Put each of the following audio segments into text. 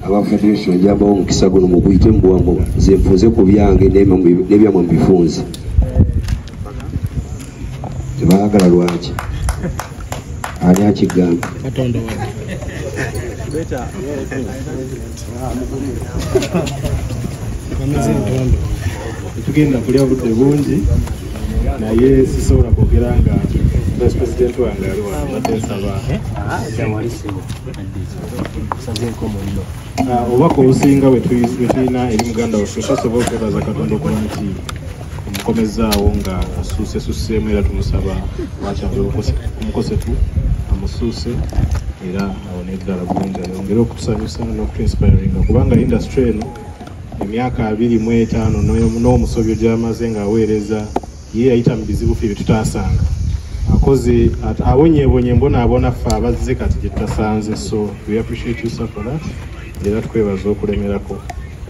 aba federation njamba omukisa guno muguyite mubwamu nze nfunze ku byange nebyamwe mubifunze tebaagala lwaki ani akigamba tugenda kulya budde bungi naye sisobola kwogera nga president wange ali wanadde nsaba Ah, obubaka obusinga bwetulina eri muganda waffe tasobola okwebaza katonda okuba nti omukomezzaawo nga asuusesuseemu era tumusaba wakyali omukosefu amusuuse era awone eddala bulungi ayongere okutusanyusa nokutuinspiringa kubanga industry eno emyaka abiri mu etaano n'omusobyo gyamaze ng'aweereza ye yayita mu bizibu ffe byetutaasanga akoze abonyebonye mbonaabona ffe abazze kati gyetutasanze so we appreciate you sir for that era tukwebaza okulemerako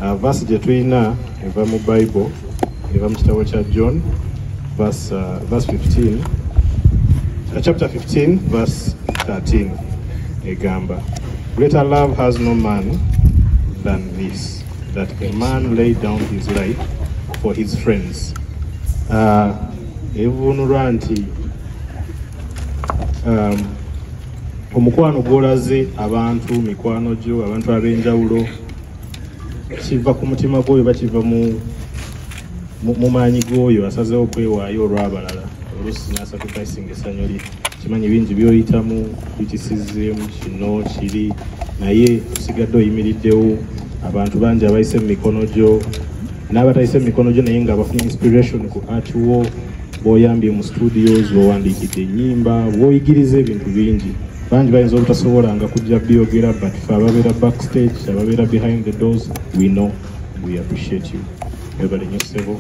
uh, vasi gye tulina eva mu bible eva mu kitabo kya john vas 15 uh, chapter 15 vas 13 egamba greater love has no man than this that a man laid down his life for his friends uh, evunulwa nti um, omukwano gwolaze abantu mikwano gyo abantu ab'enjawulo kiva ku mutima gwoyo oba kiva mu maanyi gwoyo asazeho okwewaayo olw'abalala oluusi nasacrificing essanyu lye kimanyi bingi byoyitamu bikisizimu kino kiri naye osigadde oyimiriddewo abantu bangi abayise mu mikono gyo n'abatayise mu mikono gyo naye nga bafuna inspiration ku art wo bwoyambye mu studios bwowandiikidde ennyimba bwoyigiriza ebintu bingi bangi bayinza obutasobola nga kujja byogera but fe ababeera backstage ababeera behind the doors we know we appreciate you webale nyo ssebo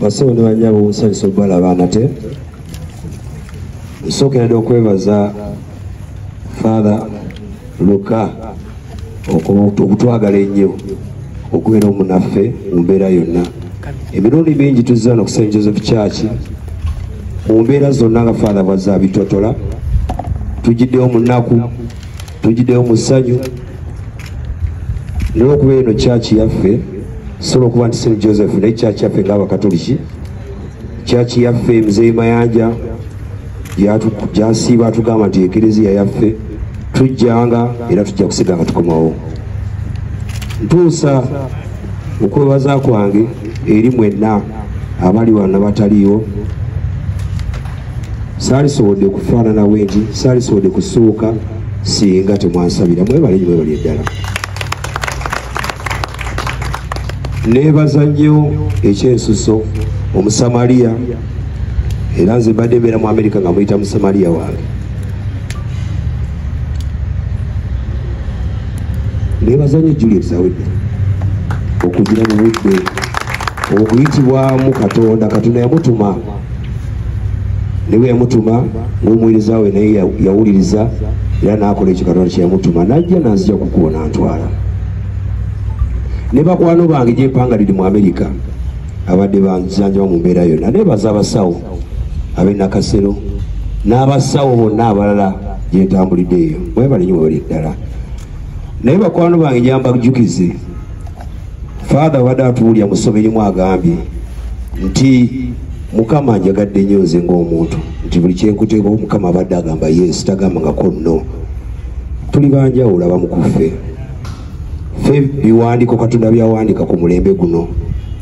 basebo ne banyabo nsanyusa okubalaba nate nsookeradde okwebaza father luka okutwagala ennyo okubeera omunaffe mu mbeera yonna emirundi mingi tuzza no ku st joseph church mu mbeera zonna nga father bwazza bitotola tugiddewo mu nnaku tujideyo mu ssanyu naye okuba eno kyaki yaffe sobola okuba nti st joseph naye kyaki yaffe ngaabakatoliki kyaki yaffe mzeyi mayanja gyasiiba atugamba nti ekereziya yaffe tujjanga era tujja kusiga nga tukomawo ntuusa okwebaza kwange eri mwenna abali wano nabataliiwo saalisobodde kufaanana wendi saalisobodde kusuuka singa temwansabira mwebale nyo mwebali eddala nebaza nnyo ekyensuso omusamaliya era nze mbadde mbeera mu amerika nga muyita musamaliya wange nebaza nnyo juliet zawedde okugira mu budde okuyitibwamu katonda katonda yamutuma ne bwe yamutuma ng'omuweereza we naye yawuliriza era n'akola ekyo katonda kye yamutuma n'ajja n'azija kukubo n'antwala ne bakwano bange gyempanga liri mu amerika abadde banzanjaba mu mbeera yonna naye baza abasawo ab'enakasero n'abasawo bonna abalala gyentambulidde eyo mwebale nyo webali ddala naye bakwano bange gyambajjukize faatha abadde atuwulira mu ssomero imu agambye nti mukama anjagadde nnyo nze ng'omuntu nti buli kyenkuteekao mukama abadde agamba yesu tagamba nga konno tuli banjawulo abamukuffe fe biwandiiko katonda byawandiika ku mulembe guno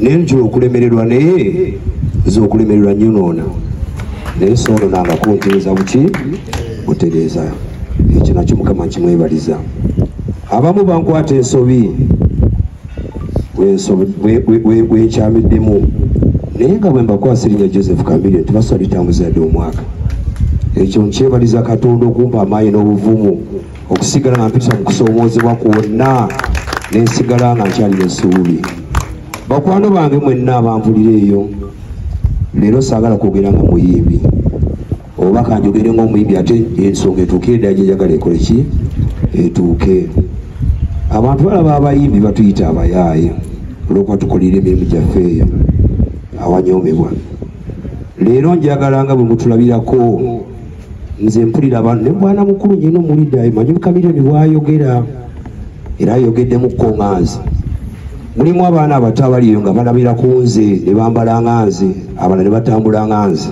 naye nkira okulemererwa naye nze okulemererwa nyonoona naye soono nanga kuntereeza buki otereeza ekyo nakyo mukama nkimwebaliza abamu bankwata ensobi wenkyamiddemu naye nga bwe mbakwasa erinya joseph kamilio tibaswa litambuza yadde omwaka ekyo nkyebaliza katonda okumpa amaanyi n'obuvumu okusigala nga mpisa mu kusoomoozebwa kwonna ne nsigala nga nkyalina essuubi bakwano bange mwenna abanvulira eyo leero saagala kwogera nga muyimbi oba kanjogere ngaomuyimbi ate ensonga etuuke eddaji enjagala ekole ki etuuke abantu balaba abayimbi batuyita abayaaye olwokuba tukolera emirimu gyaffe eyo awanyoomebwa leero njagalanga bwe mutulabirako nze mpulira abantu nemwana mukulu nyina omulida emanyi kamiliyoni bwayogera era ayogeddemu kukonganze mulimu abaana abato abaliyo nga balabira ku nze ne bambala nga nze abalala ne batambula nga nze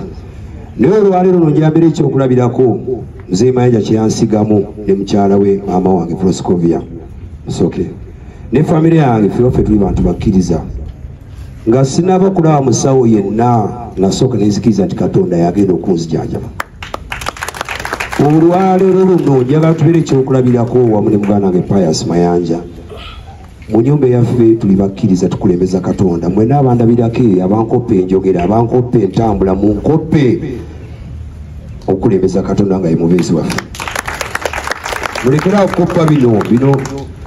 naye olwaleero no njambira ekyokulabirako mzee mayanja kyeyansigamu ne mukyala we maama wange proscovia musoke ne famire yange fewaffe tuli bantu bakkiriza nga sinaba kulaba musawo yenna nasooka nenzikiriza nti katonda yagenda okunzijanjaba olwaleero luno njagala tubeera ekyokulabirako wamu ne muganda wange pius mayanja mu nyumba eyaffe tuli bakkiriza tukulembeza katonda mwena abandabirako abankoppa enjogera abankoppa entambula mu nkoppe okukulembeza katonda nga yemubeezi waffe mulekera okukoppa bino bino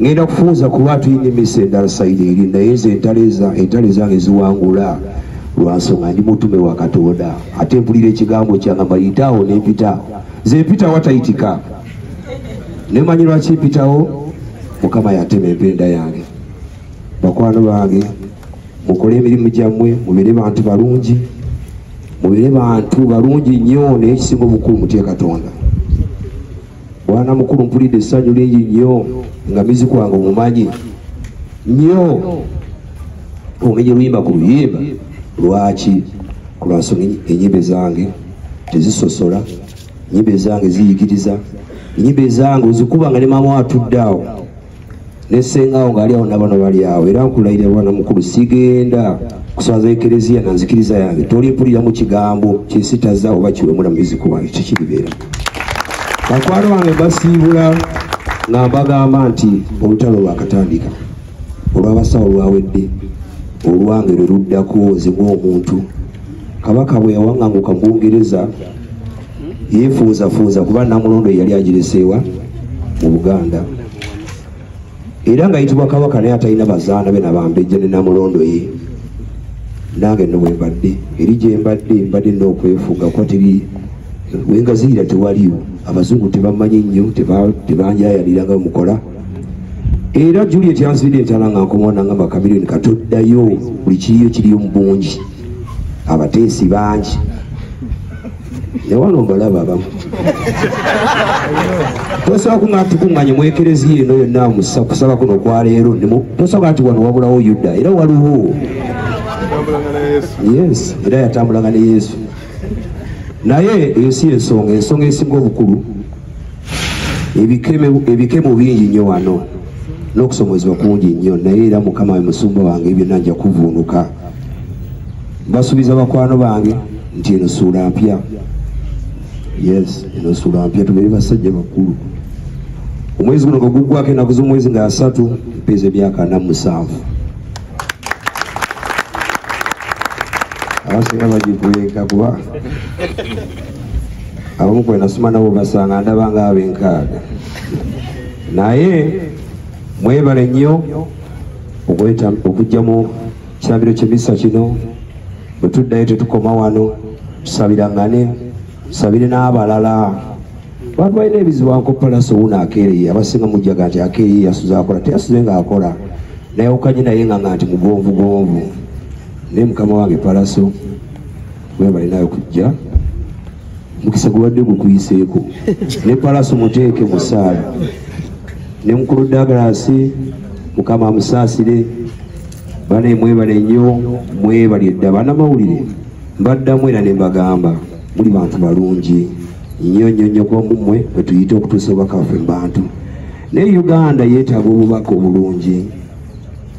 ngenda kufunza kuba tulina emisa endala sayidi eri naye nze entalo ezange ziwangula lwansonga ndi mutume wa katonda ate mpulira ekigambo kyange mayitaawo nempita nze mpita watayitika nemanyi lwaki mpitawo mukama yatema empenda yange bakwano bange mukole emirimu gyammwe mubeere bantu balungi mubeere bantu balungi nnyo naye ekisinga obukulu mutye katonda bwana mukulu mpulidde essanyu lingi nnyo nga mizi kwange omumanyi nnyo omenye luyimba ku luyimba lwaki kulwansonga enyimba ezange tezisosola enyimba ezange ziyigiriza enyimba ezange ozikuba nga ne maama atudde awo ne sengaawo ng'ali awo nabano bali awo era nkulayira bwana mukulu sigenda kuswaza ekereziya na nzikiriza yange tolimpulira mu kigambo kyesitaza oba kiwemula mubiziku wange kikiribeera bakwano bange basiibula nga mbagamba nti olutalo lwakatandika olwabasawo lwawedde olwange lwe luddako nzibwa omuntu kabaka bwe yawaŋanguka mu bungereza yefuuzafuuza kuba namulondo yeyali agireseewa mu buganda era nga yitibwa kabaka naye atalina bazaana be nabambejja ne namulondo ye nange no wembadde eri gyembadde mbadde nokwefuga kuba teri wengaziira tewaliwo abazungu tebamanyi nnyo tebanjayaliranga mukola era juliet yanzibidde entala nga nkomaona nga makamirioni katoddayo buli kiriyo kiriyo mu bungi abateesi bangi newano mbalaba abamu tosobola kunga tukuŋŋanye mu ekereziya eno yonna musa kusaba kuno okwaleero nimu tosobola nti wano wabulawo yuda era waliwo yes era yatambulanga ne yesu naye eyo si ensonga ensonga esinga obukulu ebikemo bingi nnyo wano n'okusomozebwa kungi nnyo naye era mukama we musumba wange byonna nja kuvuunuka mbasuubiza bakwano bange nti eno suula mpya yes eno suula mpya tubeere basajja bakulu omwezi guno nga guggwako enaku z'omwezi nga asatu mpeeza emyaka ana musanvu abasinga bagikuleeka kuba abamu kwenasoma nabo basanga ndaba nga abenkaaga naye mwebale nnyo okujja mu kirambiro kyemisa kino bwe tuddayo tetukoma wano tusabirangane tusabire n'abalala bantu balina ebizibu ankopalasi owuno akeereye abasinga mujjaga nti akeereye yasuze akola teyasuze nga akola nayawukanye naye nga nga nti mugonvugonvu naye mukama wange palaso webale nawe kujja mukisa gubadde gukuyiseeko ne palaso muteeke musaala ne mukulu dagalasi mukama amusaasire bane mwebale nnyo mwebali edda banamawulire mbaddamu era nembagamba muli bantu balungi nnyo nnyo nnyo kuba mumwe bwetuyite okutuusa obubaka baffe mu bantu naye uganda yeetaaga obubaka obulungi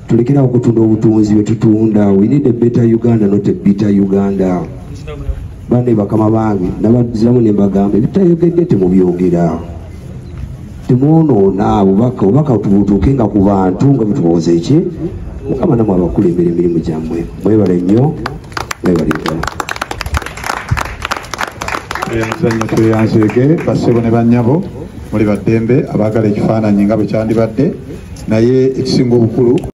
tulekera okutunda obutunzi bwetutunda we need a better uganda not a bitter uganda bane bakama bange nabaziramu nembagamba ebitayogedde temubyogera temwonoona bubaka obubaka tubutuuke nga ku bantu nga bwetubawoza eki mukama namwe abakulembera emirimu gyammwe mwebale nnyo mwebale ddala emizannyo tweyanzeege basebo ne banyabo muli baddembe abaagala ekifaananyi nga bwe kyandibadde naye ekisinga obukulu